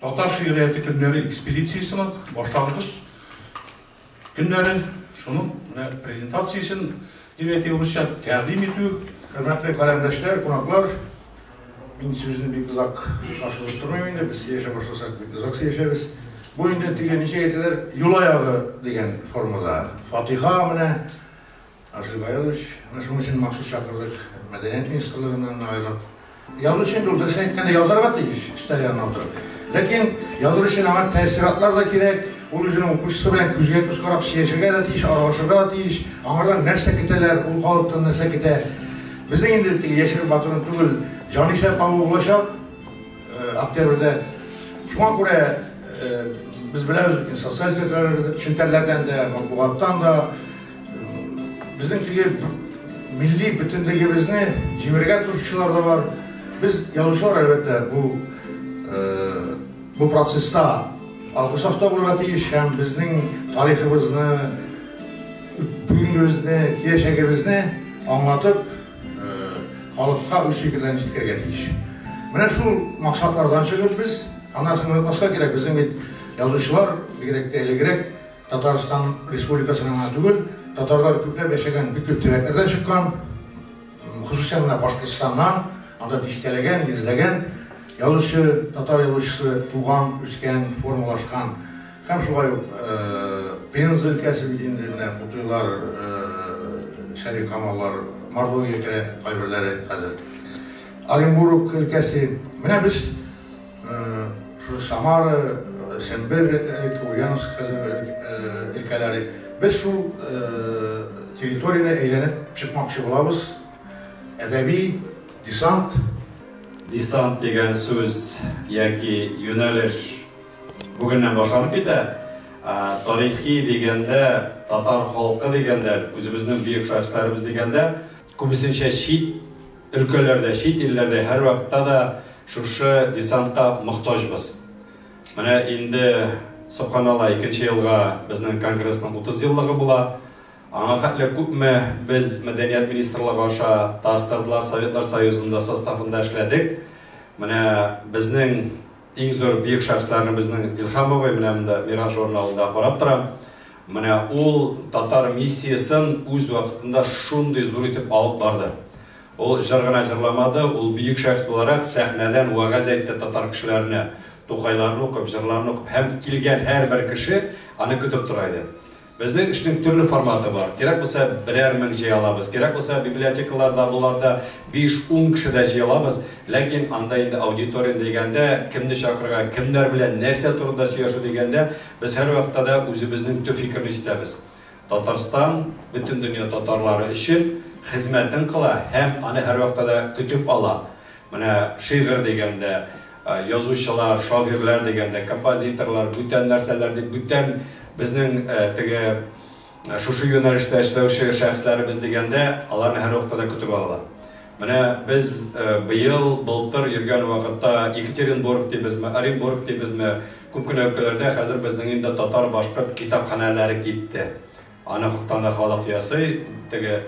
Татар шигърияте көннәре экспедициясенең башлангыч көннәре шуның менә презентациясен дип әйтик русча тәкъдим итү. Хөрмәтле каләмдәшләр, кунаклар, мин сүзне бик озак ашырып тормыйм инде, без сөйләшә башласак бик озак сөйләшәбез. Бу инде теге ничә әйтәләр, юл аягы дигән формада. Фатиха менә Арсен Гаярович, менә шуның өчен махсус чакырдык, мәдәният министрлыгыннан аерып. Язучы инде ул, дөресен әйткәндә, язарга тиеш, өстәл янына утырып. Ләкин языр өчен аңа тәэссиратлар да кирәк, ул үзенең укучысы белән күзгә-күз карап сөйләшергә дә тиеш, аралашырга да тиеш, аңардан нәрсә көтәләр, ул халыктан нәрсә көтә. Безнең инде теге яшереп батыру түгел, җанисәп алу булачак э, октябрьдә. Шуңа күрә э, без беләбез бит, социаль челтәрләрдән дә, матбугаттан да, Безнең теге милли бөтенлегебезне җимерергә тырышучылар да бар. Без язучылар, әлбәттә, бу бу процесста алгы сафта булырга тиеш һәм безнең тарихыбызны, бүгенгебезне, киләчәгебезне аңлатып, халыкка үз фикерләрен җиткерергә тиеш. Менә шул максатлардан чыгып без, аннан соң онытмаска кирәк, безнең бит язучылар, бигрәк тә элегрәк, Татарстан Республикасының гына түгел, татарлар күпләп яшәгән бик күп төбәкләрдән чыккан, хосусән менә Башкортостаннан, анда дистәләгән, йөзләгән язучы, татар язучысы туган, үскән, формалашкан. Һәм шулай ук э, Пенза өлкәсе бит инде менә Кутуйлар, э, Шәриф Камаллар, Мордовия керә кайберләре хәзер. Оренбург өлкәсе. Менә без Шушы Самара, Сембер, элек Ульяновск хәзер өлкәләре. Без шул территорияне әйләнеп чыкмакчы булабыз. Әдәби десант. Десант дигән сүз яки юнәлеш бүгеннән башланып китә. Тарихи дигәндә, татар халкы дигәндә, үзебезнең бөек шәхесләребез дигәндә, Күбесенчә чит өлкәләрдә, чит илләрдә һәрвакытта да шушы десантка мохтаҗбыз. Менә инде, собханалла, икенче елга безнең конгрессның 30 еллыгы була. Аңа хәтле күпме без Мәдәният министрлыгы аша ТАСС-тардылар Советлар Союзында составында эшләдек. Менә безнең Иң зур бөек шәхесләрне безнең Илһам бабай менә монда Мирас журналында карап торам. Менә ул татар миссиясен үз вакытында шундый зур итеп алып барды. Ул җыр гына җырламады, ул бөек шәхес буларак сәхнәдән вәгазь әйтте татар кешеләренә. Тукайларны укып, җырларны укып һәм килгән һәрбер кеше аны көтеп тора иде. Безнең эшнең төрле форматы бар. Кирәк булса, берәр мең җыя алабыз. Кирәк булса, библиотекаларда, боларда биш-ун кеше дә җыя алабыз. Ләкин анда инде аудитория дигәндә, кемне чакырырга, кемнәр белән, нәрсә турында сөйләшү дигәндә, без һәрвакытта да үзебезнең төп фикерне җитәбез. Татарстан бөтен дөнья татарлары өчен хезмәтен кыла һәм аны һәрвакытта да көтеп ала. Менә шигырь дигәндә, язучылар, шагыйрьләр дигәндә, композиторлар, бүтән нәрсәләр дип, бүтән безнең теге шушы юнәлештә эшләүче шәхесләребез дигәндә, аларны һәрвакытта да көтеп алалар. Менә без быел, былтыр йөргән вакытта Екатеринбург дибезме, Оренбург дибезме, күп кенә өлкәләрдә хәзер безнең инде татар-башкорт китапханәләре китте. Аны хуптан да халык ясый. Теге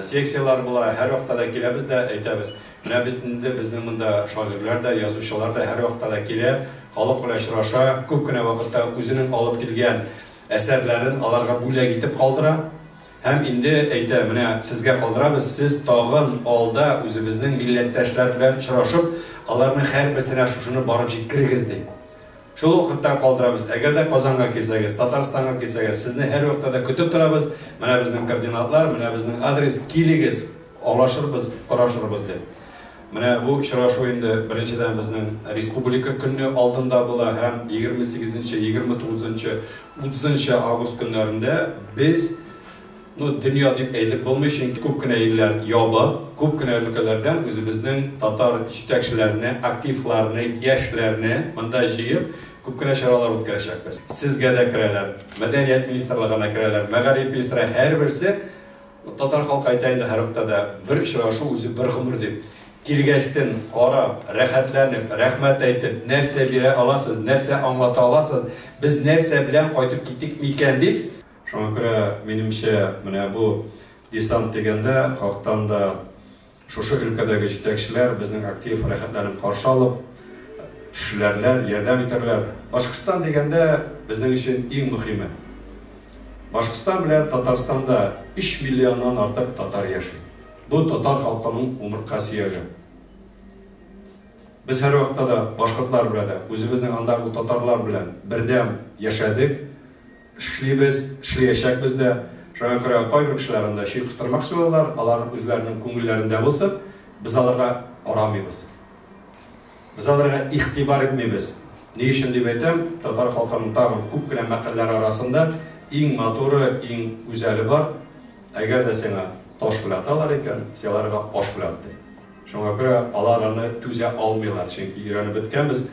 секцияләр була, һәрвакытта да киләбез дә әйтәбез. Менә без инде, безнең монда шагыйрьләр дә, язучылар да һәрвакытта да килә, халык белән очраша, күп кенә вакытта үзенең алып килгән әсәрләрен аларга бүләк итеп калдыра. Һәм инде әйтә, менә сезгә калдырабыз, сез тагын алда үзебезнең милләттәшләр белән очрашып, аларның һәрберсенә шушыны барып җиткерегез, ди. Шул вакыттан калдырабыз. Әгәр дә Казанга килсәгез, Татарстанга килсәгез, сезне һәрвакытта да көтеп торабыз. Менә безнең координатлар, менә безнең адрес, килегез, алашырбыз, карашырбыз дип. Менә бу очрашу инде беренчедән безнең республика көнне алдында була һәм 28 нче, 29 нчы, 30 нчы август көннәрендә без Ну, дөнья дип әйтеп булмый, чөнки күп кенә илләр ябык, күп кенә өлкәләрдән үзебезнең татар җитәкчеләрне, активларны, яшьләрне монда җыеп, күп кенә чаралар үткәрәчәкбез. Сезгә дә керәләр, мәдәният министрлыгына керәләр, мәгариф министры, һәрберсе, татар халкы әйтә инде һәр октада, бер очрашу үзе бер гомер дип. Килгәчтен карап, рәхәтләнеп, рәхмәт әйтеп, нәрсә бирә аласыз, нәрсә аңлата аласыз, без нәрсә белән кайтып китик микән дип, Шуңа күрә, минемчә, менә бу десант дигәндә хактан да шушы өлкәдәге җитәкчеләр безнең актив рәхәтләнеп каршы алып эшләрләр, ярдәм итәрләр. Башкортстан дигәндә безнең өчен иң мөхиме. Башкортстан белән Татарстанда 3 миллионнан артык татар яши. Бу татар халкының умыртка сөяге. Без һәрвакытта да башкортлар белән дә, үзебезнең андагы татарлар белән бердәм яшәдек, Эшлибез, эшлиячәкбез дә. Шуңа күрә кайбер кешеләр анда чөй кыстырмак суялар, алар үзләренең күңелләрендә булсын, без аларга карамыйбыз. Без аларга игътибар итмибез. Ни өчен дип әйтәм, татар халкының тагын күп кенә мәкальләре арасында иң матуры, иң гүзәле бар, әгәр дә сиңа таш белән аталар икән, син аларга аш белән ат, ди. Шуңа күрә алар аны түзә алмыйлар, чөнки өйрәнеп беткәнбез,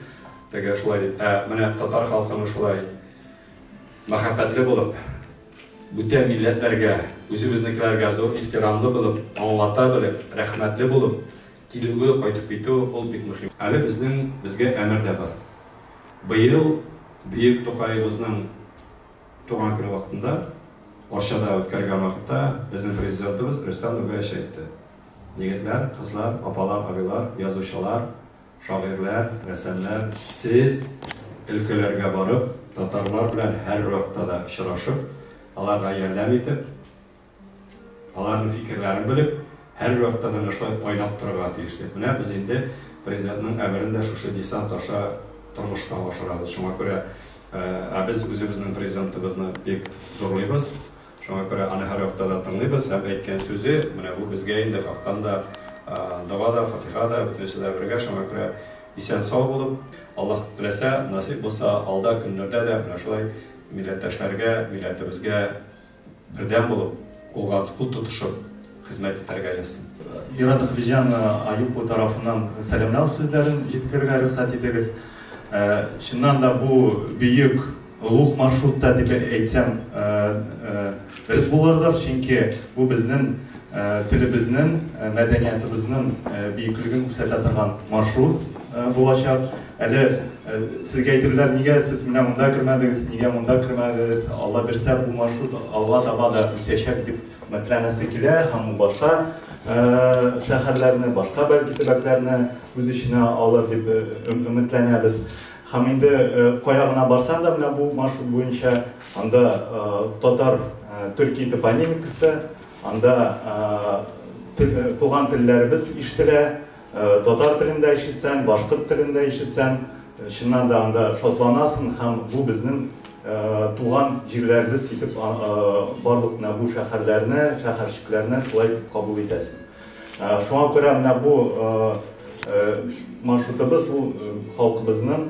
теге шулай дип. Ә менә татар халкының шулай Мәхәббәтле булып, бүтән милләтләргә, үзебезнекеләргә зур ихтирамлы булып, аңлата белеп, рәхмәтле булып килүе, кайтып китү, ул бик мөһим. Әле безнең безгә әмер дә бар. Быел бөек Тукаебызның туган көне вакытында Арчада үткәргән вакытта безнең Президентыбыз Рөстәм Нургаевич әйтте, Егетләр, кызлар, апалар, абыйлар, язучылар, Шагыйрьләр, рәссамнар, сез өлкәләргә барып, татарлар белән һәрвакытта да очрашып, аларга ярдәм итеп, аларның фикерләрен белеп, һәрвакытта да менә шулай айнап торырга тиеш дип, менә без инде Президентның әмерен дә шушы десант аша тормышка ашырабыз. Шуңа күрә, ә без үзебезнең Президентыбызны бик зурлыйбыз. Шуңа күрә аны һәр вакытта да тыңлыйбыз һәм әйткән сүзе, менә бу безгә инде хактан да, дога да, фатиха да, бөтенесе дә бергә, шуңа күрә исән-сау булып, Аллаһ теләсә, насыйп булса, алда көннәрдә дә менә шулай милләттәшләргә, милләтебезгә бердәм булып, кулга-кул тотышып, хезмәт итәргә язсын. Ира Нөхбиҗанна Аюпова тарафыннан сәламләү сүзләрен җиткерергә рөхсәт итегез. Чыннан да бу бөек олуг маршрутта дип әйтсәм дөрес булырдыр, чөнки бу безнең телебезнең, мәдәниятыбызның бөеклеген күрсәтә торган маршрут булачак. Әле сезгә әйтерләр, нигә сез менә монда кермәдегез, нигә монда кермәдегез, Алла бирсә, бу маршрут алга таба да үсәчәк дип. Хөрмәтләнәсе килә һәм ул башка шәһәрләрне, башка бәлки төбәкләрне үз эченә алыр дип өметләнәбез. Һәм инде кая гына барсаң да менә бу маршрут буенча анда татар төрки топонимикасы, анда туган телләребез ишетелә, Татар телендә ишетсәң, башкорт телендә ишетсәң, чыннан да анда шатланасың һәм бу безнең туган җирләребез итеп барлык менә бу шәһәрләрне, шәһәрчекләрне шулай итеп кабул итәсең. Шуңа күрә менә бу маршрутыбыз ул халкыбызның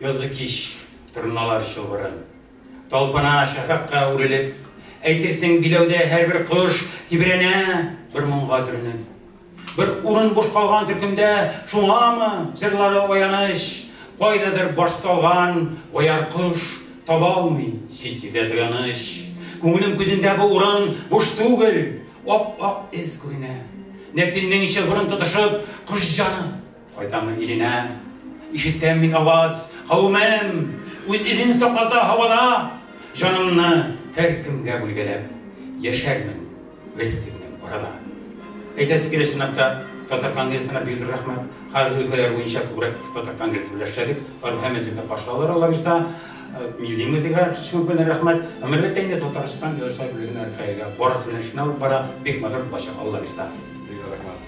Язгы кич, торналар чылбырын. Талпына шәфәкъка үрелеп. Әйтерсең, биләүдә һәрбер кош Тибрәнә бер моңга төренеп. Бер урын буш калган төркемдә, Шуңамы, җырлары аяныч? Кайдадыр баш салган бояр кош Табалмый чит-читә таяныч. Күңелем күзендә бу урын буш түгел, Ап-ак эз күренә. Нәселнең чылбырын тотышып, Кош җаны! Кайтамы иленә? Ишетәм мин аваз, Кавымым, үз изен сакласа һавада, Җанымны һәр кемгә бүлгәләп, Яшәрмен гел сезнең арада. Әйтәсе килә чынлап та, Татар конгрессына бик зур рәхмәт. Хәзер өлкәләр буенча күбрәк Татар конгрессы белән эшләдек. Алар һәммә җирдә каршы алалар алла бирса. Э, милли музейга чыгып белән рәхмәт. Һәм әлбәттә инде Татарстан язучылар берлегенә Рәфаэлгә барысы белән эшне алып бара. Бик матур булачак алла бирса. Бик рәхмәт.